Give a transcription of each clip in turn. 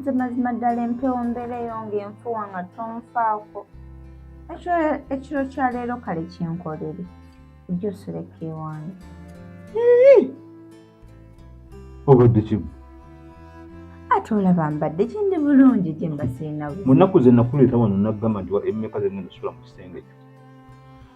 nze mazima ddala empewo mbeera eyo ng'enfuwa nga tonfaako ekyo ekiro kya leero kale kyenkolere ojja osoleka ewange obadde kimu ate olaba mbadde kindi bulungi gye mbasiinamu mu nnaku ze nakuleeta wano naggamba nti wa emmeka ze ngenda sula mu kisenge kyo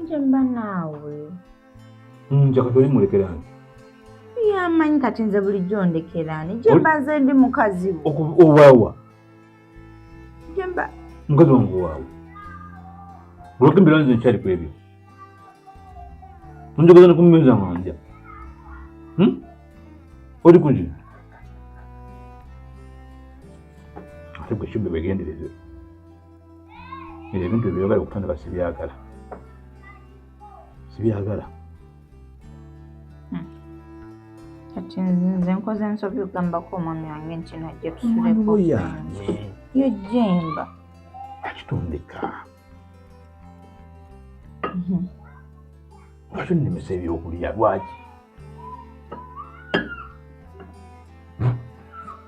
nje mba naawe mm, nja kati olimulekeraani yamanyi kati nze bulijjo ndekeraani gye mba nze ndi mukazi wo owaawa gye mba mukazi wange owaawe olwokembera nze nkyali ku ebyo onjogeza ne kumumeza manja hmm? oli kuki ate gwe kibbe begendereze ebyo ebintu ebyeyogala okutandika sibyagala sibyagala hmm. kati nze nkoze ensobi ogambako omwami wange nti najja tusuleko yange yo jemba akitondeka hmm. nga kyonnemesa ebyokulya lwaki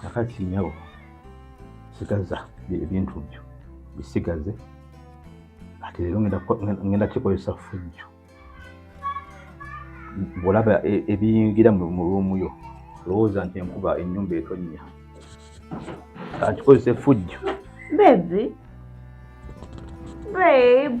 kakati nyabo sigaza ebintu byo bisigaze ati leero ngenda kikozesa fujjo bwolaba e, ebiyingira mu ruumu yo lowooza nti enkuba enyumba etonnya akikozesa efujjo bebi babe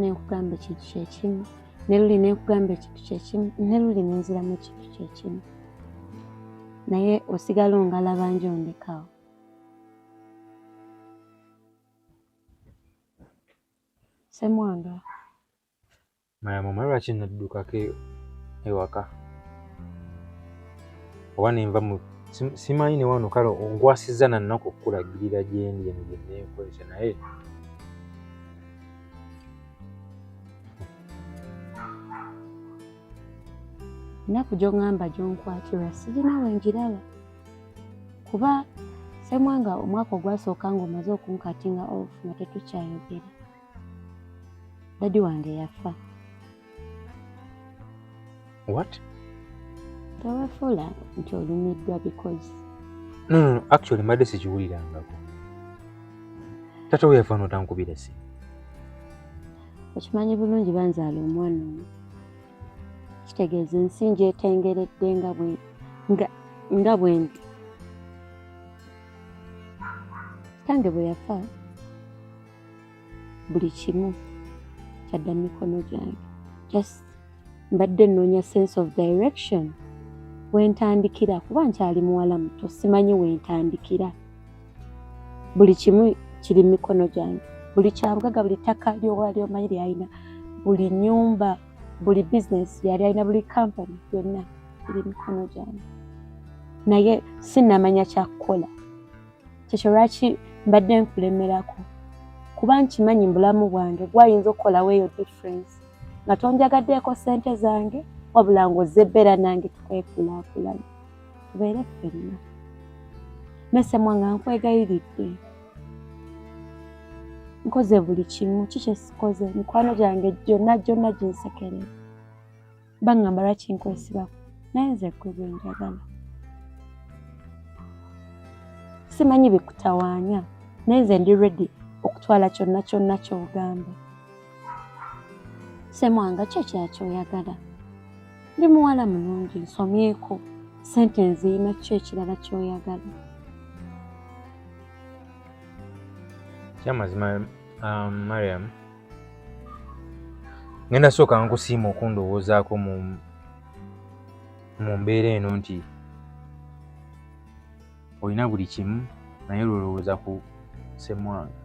ne nkugamba ekintu kyekimu ne luli ne nkugamba ekintu kyekimu ne luli ne nziramu ekintu kyekimu naye osigala ongalaba njo ondekawo semwanga maya mama lwaki naddukako e-, ewaka oba nenva mu simanyi ne wano kale ongwasizza nannaku okukulagirira gyendi eno gyenenkozesa naye ennaku gyongamba gyonkwatirwa sirina wengiraba kuba semwanga omwaka ogwasooka nga omaze okunkatinga off nga tetukyayogera dadi wange yafa what tewafula nti olumiddwa because no, no, no. actually mbadde sikiwulirangako tata we yafa notankubira si okimanyi bulungi banzaala omwana omu kitegeeza ensi njetengeredde nga bwe nga nga bwendi tange bwe yafa buli kimu kyadda mu mikono gyange just mbadde nnoonya sense of direction wentandikira kuba nkyali muwala muto simanyi wentandikira buli kimu kiri mu mikono gyange buli kyabugaga buli ttaka lyowali omanyi lyalina buli nyumba buli bizinesi yali alina buli kampani yonna iri mikono gyange naye sinamanya kyakukola kyekyo lwaki mbadde nkulemerako kuba nkimanyi mubulamu bwange gwayinza okukolawo eyo difference nga tonjagaddeeko sente zange wabula nga ozze ebbeera nange tukwekulaakulana tubeere ffenna mesemwa nga nkwegayiridde nkoze buli kimu kikyesikoze mikwano gyange gyonna gyonna ginsekerera baŋŋamba lwaki nkwesibako naye nze ggwe gwe njagala simanyi bikutawaanya naye nze ndi redi okutwala kyonna kyonna ky'ogamba semwanga kyo kyakyoyagala ndi muwala mulungi nsomyeko sente nziina kyo ekirala kyoyagala kyamazima um, mariam ngenda sooka nkusiima okundowoozaako mu mu mbeera eno nti olina buli kimu naye lwolowooza ku semwanga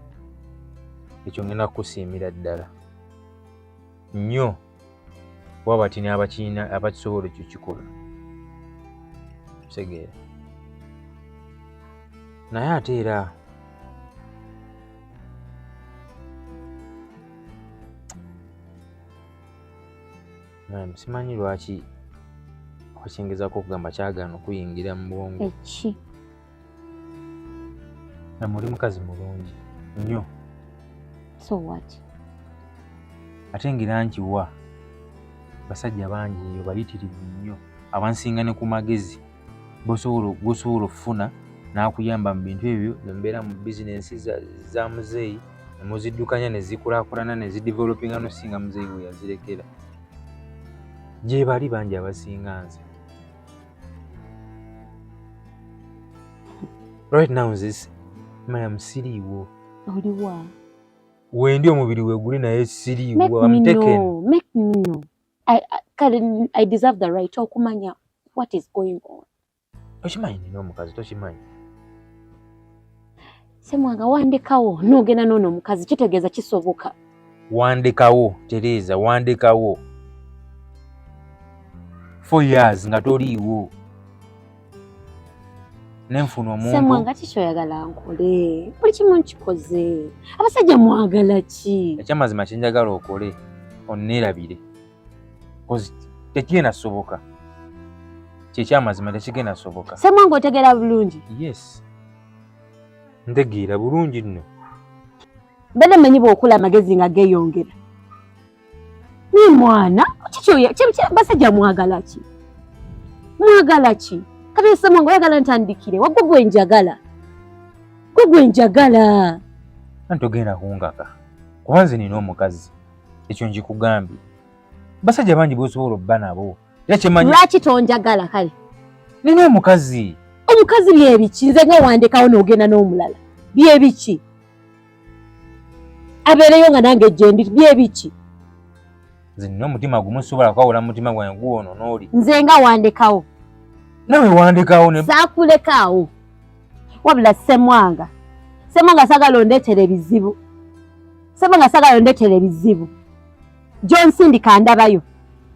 ekyo ngenda kukusiimira ddala nnyo kuba bati n'abakirina abakisobola ekyo kikola kitegeera naye ate era simanyi lwaki okyengezako okugamba kyagana okuyingira mu bwongo namwe oli mukazi mulungi nnyo so what ate ngira nkiwa basajja bangi eyo bayitirivu nnyo abansinga ne ku magezi gosobola okufuna n'akuyamba mu bintu ebyo nembeera mu bizinensi za muzeeyi nemuziddukanya nezikulakulana nezidevelopinga nosinga muzeeyi weyazirekera gyebali bangi abasinga nze right now nzise maya musiriiwo oliwa wendi omubiri weguli naye siriiwo am taken make me know i kale i deserve the right okumanya what is going on tokimanyi nina omukazi tokimanyi semwanga wandikawo nogenda nono omukazi kitegeeza kisoboka wandikawo tereza wandikawo four years nga toliiwo nenfuna omuntusemwanga kikyoyagala nkole buli kimu nkikoze abasajja mwagala ki ekyamazima kyenjagala okole onnerabire tekigenda soboka kyekyamazima tekigenda soboka semwanga otegera bulungi yes ntegeera bulungi nno mbadde manyi bwokula amagezi nga geyongera naye mwana basajja mwagala ki mwagala ki kateesemu nga oyagala ntandikire wagwo gwe njagala gwe gwe njagala antogenda kungaka kuba nze nina omukazi ekyo njikugambye basajja bangi bosobola obba nabo Era kye manyi. Lwaki tonjagala kale? Nina omukazi. Omukazi bye biki? Nze nga wandekawo n'ogenda n'omulala. Bye biki? Abeereyo nga nange gyendi bye biki? Nze nina omutima gumu sisobola kwawula mu mutima gwange guwono n'oli. Nze nga wandekawo. Nawe wandekawo ne. Saakulekaawo. Wabula Ssemwanga. Ssemwanga sagala ondeetera ebizibu. Ssemwanga sagala ondeetera ebizibu. John Sindika ndabayo.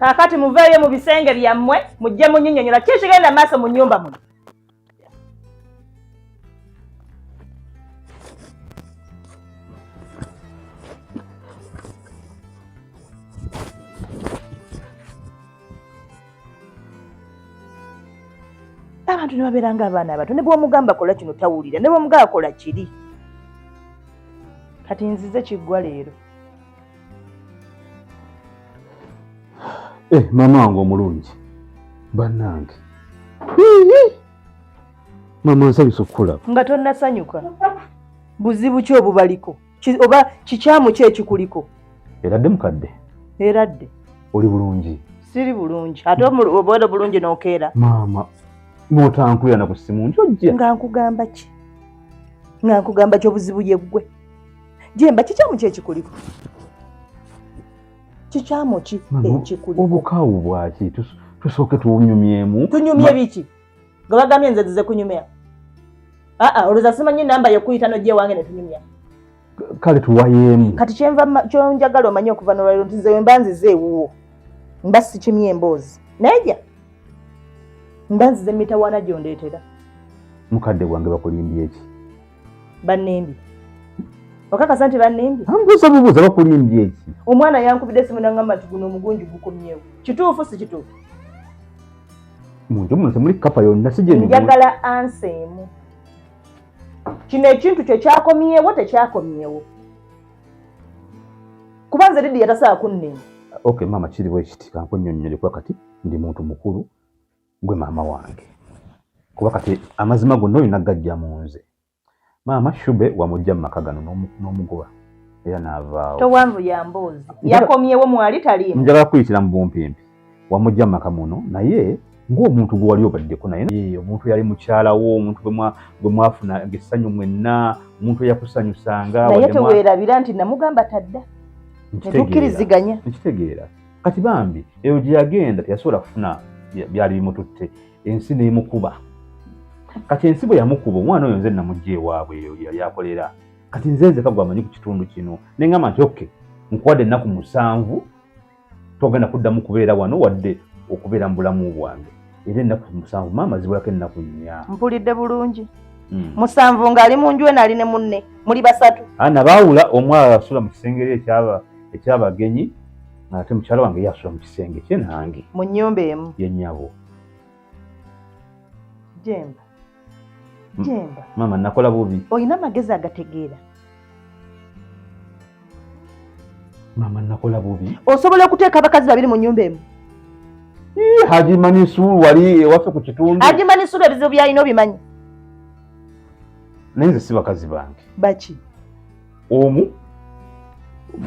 kaakati muveeyo mu bisenge byammwe mujje munyinyonyola ki kigenda maaso mu nyumba muno abantu ne babeera ng'abaana abato ne bwomugamba kola kino tawulira ne bwomugamba kola kiri kati nzize kiggwa leero eh, maama wange omulungi bannange maama nsabisa okukulaba nga tonnasanyuka buzibu ki obubaliko oba kikyamu ki ekikuliko eradde mukadde eradde oli bulungi siri bulungi ate obeera bulungi nokeera maama notankulira na ku simu nti ojja nga nkugamba ki nga nkugamba ki obuzibu yeggwe jemba kikyamu ki ekikuliko kikyamu ki ekikuliko obukaawu bwaki tusooke tunyumyemu tunyumye biki nga bagambye nze zize kunyumya aa olowooza simanyi namba yokuyita nojja ewange netunyumya kale tuwayeemu kati kyenva kyonjagala omanye okuva nolwaliro nti nze wemba nzize ewuwo mba sikimye emboozi nayeja mba nzize mitawaana gyondeetera mukadde gwange bakulimbye eki bannembi okakasa nti bannembi ambuuza bubuuza bakulimbye eki omwana yankubidde simu nangamba nti guno omugunju gukomyewo kituufu si kituufu mu nju muno temuli kapa yonna si gyemigula njagala ansa emu kino ekintu kyo kyakomyewo tekyakomyewo kuba nze lidiya tasaa kunnema okay maama kiri bwe kiti kankunyonnyole kuba kati ndi muntu mukulu gwe maama wange kuba kati amazima gonna olina gajja mu nze maama shube wamujja mu maka gano n'omugoba era n'avaawo towanvu ya mboozi yakomyewo mwali taliimu njagala kuyitira mu bumpimpi wamujja mu maka muno naye ng'omuntu gwe wali obaddeko naye omuntu yali mukyala wo omuntu gwe mwafuna essanyu mwenna omuntu eyakusanyusanga naye teweerabira nti namugamba tadda netukkiriziganya nkitegeera kati bambi eyo gye yagenda teyasobola kufuna byali bimututte ensi n'emukuba kati ensi bwe yamukuba omwana oyo nze namugya ewaabwe eyo yali akolera kati nze nzeka gwe amanyi ku kitundu kino ne ngamba nti oke nkuwadde ennaku musanvu togenda kuddamu kubeera wano wadde okubeera mu bulamu bwange era ennaku musanvu maama zibulako ennaku nnya mpulidde bulungi hmm. musanvu ng'ali mu nju enali ne munne muli basatu ana baawula omwala asula mu kisenge eri ekyabagenyi ate mukyala wange ye asula mu kisenge kye nange mu nnyumba emu ye nnyabo jemba jemba maama nakola bubi olina amagezi agategeera maama nakola bubi osobola okuteeka abakazi babiri mu nyumba emu haji manisuru wali ewaffe ku kitundu haji manisuru ebizibu byalina obimanyi naye nze si bakazi bange baki omu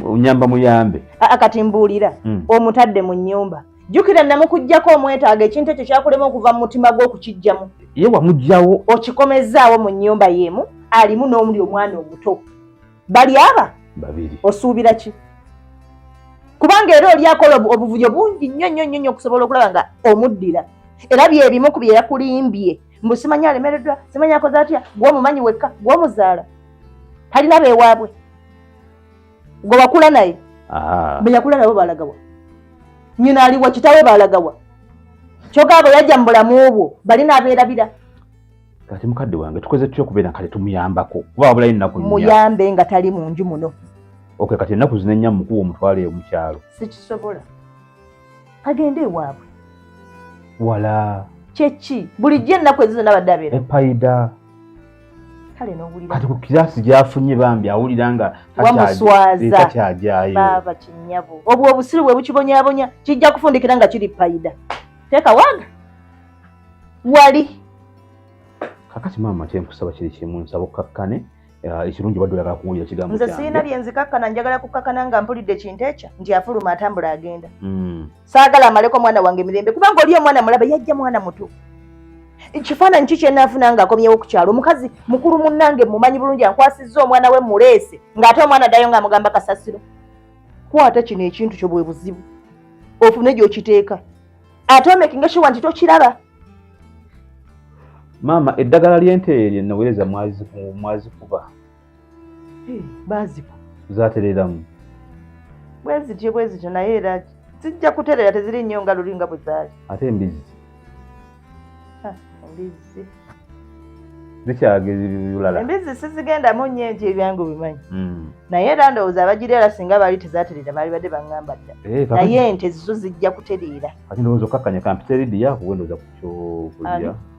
onyamba muyambe kati mbuulira hmm. omutadde mu nyumba jjukira namukuggyako omwetaaga ekintu ekyo kyakulema okuva mu mutima gwe okukijjamu ye wamugyawo okikomezzaawo mu nnyumba y'emu alimu n'omuli omwana omuto bali aba babiri osuubira ki kubanga era oli akola obuvuyo bungi nnyo nnyo nnyo nnyo okusobola okulaba nga omuddira era byebimu ku bye yakulimbye mbu simanyi alemereddwa simanyi akoze atya gwomumanyi wekka gwomuzaala talina beewaabwe gwe wakula naye beyakula nabo balagawa nyina aliwa kitawe balagawa kyoka abo yajja mu bulamu obwo bali nabeerabira kati mukadde wange tukoze tutya okubeera kale tumuyambako kuba wabulayo ennaku muyambe nga tali mu nju muno oke kati ennaku zino ennya mukuwa omutwalo eyo mukyalo sikisobola agende ewaabwe wala kyeki bulijjo ennaku ezizo nabadde abeera epayida kale nowulira kati ku kirasi gyafunye bambi awulira nga takyagyayo baaba kinyabo obwo obusiru bwe bukibonyabonya kijja kufundikira nga kiri payida teeka waga wali kakati maama kyenkusaba kiri kimu nsaba okkakkane eh, ekirungi badde oyagala kuwulira kigambo nze sirina byenzikakkana njagala kukkakana nga mpulidde kintu ekyo nti afuluma atambula agenda hmm. saagala amaleko mwana wange mirembe kubanga oli omwana mulabe yajja mwana muto ekifaananyi ki kyenaafuna nga akomyewo ku kyalo omukazi mukulu munnange mumanyi bulungi ankwasizza omwana we muleese ng'ate omwana addayo nga amugamba kasasiro kwata kino ekintu kyo bwe buzibu ofune gyokiteeka ate omekinga shiwa nti tokiraba maama eddagala ly'ente lye naweereza mwazikuba bazibu zatereramu bwezityo bwezityo naye era zijja kuterera teziri nnyo nga luli nga buzaali ate embizzi embizzi zikyagezibulala embizzi sizigendamu nnyo enti ebyangu bimanyi hmm. naye era ndowooza abagira era singa baali tezaterera baali badde baŋŋamba dda eh, naye ente zizo zijja kutereera kati ndowooza okkakkanya kampiteridi yakuwendoza ku kyokulya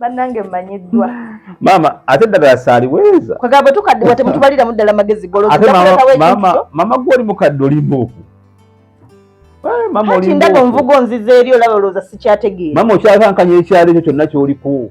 bannange mmanyiddwa maama ate ddagala saaliweeza kwegamba bwe tukaddiwa temutubaliramu ddala magezi golozmaama gwe oli mukadde olimbuuku kati ndaga onvuga onziza eri olaba olowooza sikyategeera maama okyakankanya ekyalo ekyo kyonna kyoliko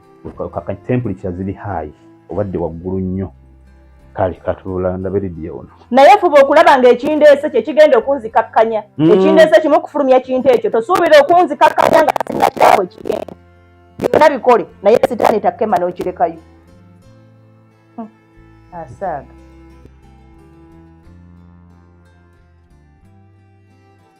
kaka temperature ziri high obadde waggulu nnyo kale katula ndabe lidiyo ono naye fuba okulaba nga ekindeese kye kigenda okunzikakkanya mm. ekindeese kimu okufulumya kintu ekyo tosuubira okunzikakkanya nga sinakyawe kigenda byonna bikole naye sitaani takema n'okirekayo hmm. asaaga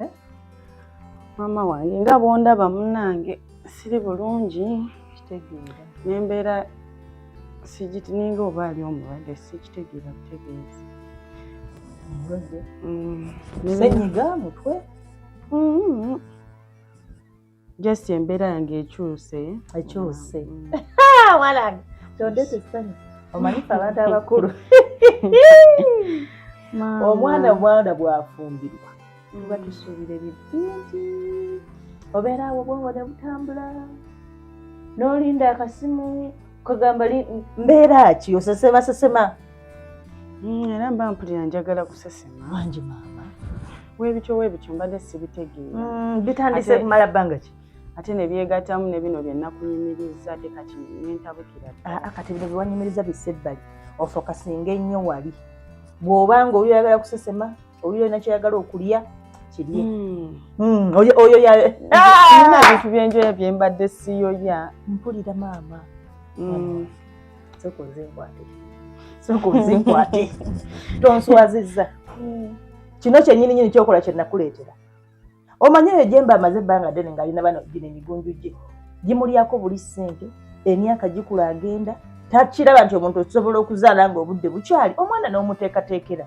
Eh? maama wange nga bwondaba munange siri bulungi kitegeera nembeera sigiti ninga oba ali omulwadde sikitegeera butegeezi omulwadde mm. senyiga mutwe mm-hmm. just embeera yange ekyuse ekyuse wanange kyondete essanyu omanyifa abantu abakulu omwana omwana bwafumbirwa tuba mm. tusuubira ebyo bingi obeera awo bwongo ne butambula n'olinda akasimu kagamba mbeera ki osesema sesema Mm, era mba mpulira njagala kusesema wangi maama webityo webityo mbadde sibitegeera mm, bitandise kumala bbanga ki ate nebyegatamu ne bino byenakuyimiriza ate kati nentabukira ah, ah, kati bino byewanyimiriza bisse ebbali ofokasinga ennyo wali bw'oba nga oyo yagala kusesema oyo yona kyeyagala okulya kirye hmm. oyo ah! bintu byenjoya byembadde siyoya mpulira maama hmm. sooka onzinkwate sooka onzinkwate tonswazizza kino kyenyini nyini kyokola kyenakuleetera omanyi eyo gyemba amaze ebbanga ddene ng'alina bano gino emigunju gye gimulyako buli ssente emyaka gikula agenda takiraba nti omuntu osobola okuzaala nga obudde bukyali omwana n'omuteekateekera